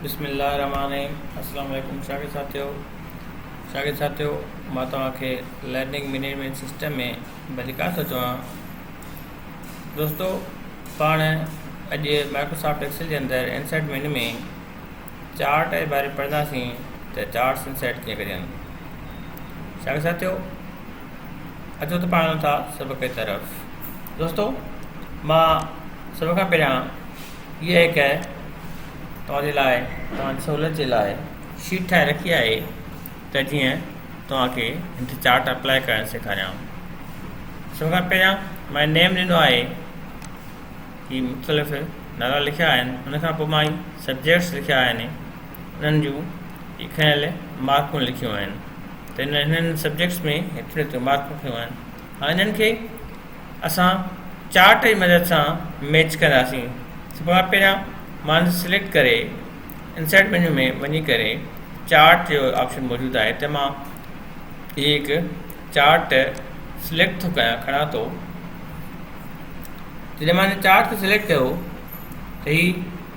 بسم الله الرحمن الرحيم السلام عليڪم شاگرد ساٿيو شاگرد ساٿيو مان توهان کي لرننگ مينيجمنٽ سسٽم ۾ ڀليڪار ٿو چوان دوستو پاڻ اڄ مائڪروسافٽ ايڪسل جي اندر انسرٽ مين ۾ چارٽ جي باري پڙهنداسين ته چارٽس انسرٽ ڪيئن ڪجن شاگرد ساٿيو اچو ته پڙهون ٿا سبق جي طرف دوستو مان سڀ کان پهريان هيء هڪ توهان جي لاء توهان جي سهولت جي لاء شيٽ ٺاهي رکي آهي ته جيئن توهان کي هن تي چارٽ اپلاء ڪرڻ سيکاريان سڀ کان پهريان مان نيم ڏنو آهي هي مختلف نالا لکيا آهن ان کان پوء مان سبجيڪٽس لکيا آهن انهن جون اهي کنيل مارڪون لکيون آهن ته انهن انهن سبجيڪٽس ۾ هيتريون هيتريون مارڪون کنيون آهن هاڻي انهن کي اسان چارٽ جي مدد سان ميچ ڪنداسين سڀ کان پهريان مانس سليڪٽ ڪري انسرٽ مينيو ۾ وڃي ڪري چارٽ جو آپشن موجود آهي هتي مان هي هڪ چارٽ سليڪٽ ٿو ڪيان کڻان ٿو جڏهن مان هن چارٽ کي سليڪٽ ڪيو ته هي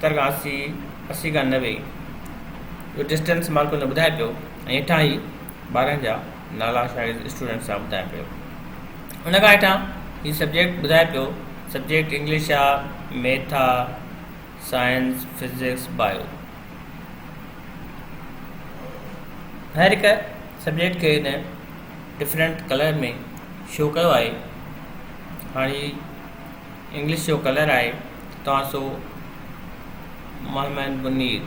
ترغاسي اسي کان نوي جو ڊسٽنس مالڪو نه ٻڌائي پيو ۽ هيٺان هي ٻارن جا نالا شايد اسٽوڊنٽس سان ٻڌائي پيو ان کان هيٺان هي سبجيڪٽ ٻڌائي پيو سبجيڪٽ انگلش آ ميٿ آ سائنس فزڪس بايو هر هڪ سبجيڪٽ کي هن ڊفرنٽ ڪلر ۾ شو ڪيو آهي هاڻي انگلش جو ڪلر آهي توهان سو محمد منير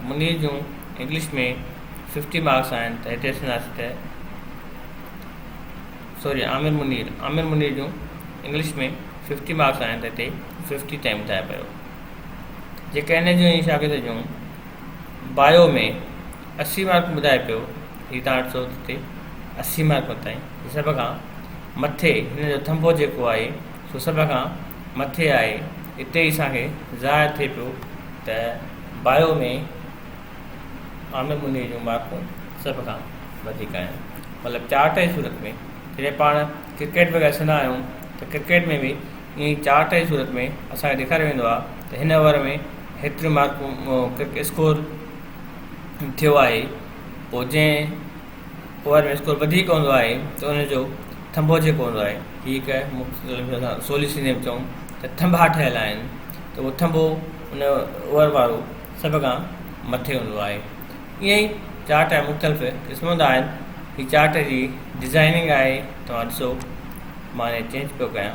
منير جون انگلش ۾ ففٽي مارڪس آهن ته هتي سنداسين ته سوري عامر منير عامر منير جون انگلش ۾ ففٽي مارڪس آهن ته هتي ففٽي تائين ٻڌائي پيو جيڪا هن جون هي شاگرد جون بايو ۾ اسي مارڪ ٻڌائي پيو هي تان ڏسو هتي اسي مارڪ تائين سڀ کان مٿي هن جو ٿنڀو جيڪو آهي سو سڀ کان مٿي آهي. اتي ئي اسان کي ظاهر ٿئي پيو ته بايو ۾ عامر منير جون مارڪون سڀ کان وڌيڪ آهن مطلب چارٽ جي صورت ۾ جڏهن پاڻ ڪرڪيٽ وغيره ڏسندا آهيون ته ڪرڪيٽ ۾ به ائين چارٽ جي صورت ۾ اسان کي ڏيکاريو ويندو آهي ته هن اوور ۾ هيتريون مارڪون اسڪور ٿيو آهي پوء جنهن اوهر ۾ اسڪور وڌيڪ هوندو آهي ته ان جو ٿنڀو جيڪو هوندو آهي هيڪ سولي سنڌي ۾ چئون ته ٿنڀا ٺهيل آهن ته اهو ٿنڀو ان اوهر وارو سڀ کان مٿي هوندو آهي ائين ئي چارٽ جا مختلف قسم هوندا آهن هي چارٽ جي ڊزائننگ آهي توهان ڏسو مان هي چينج پيو ڪيان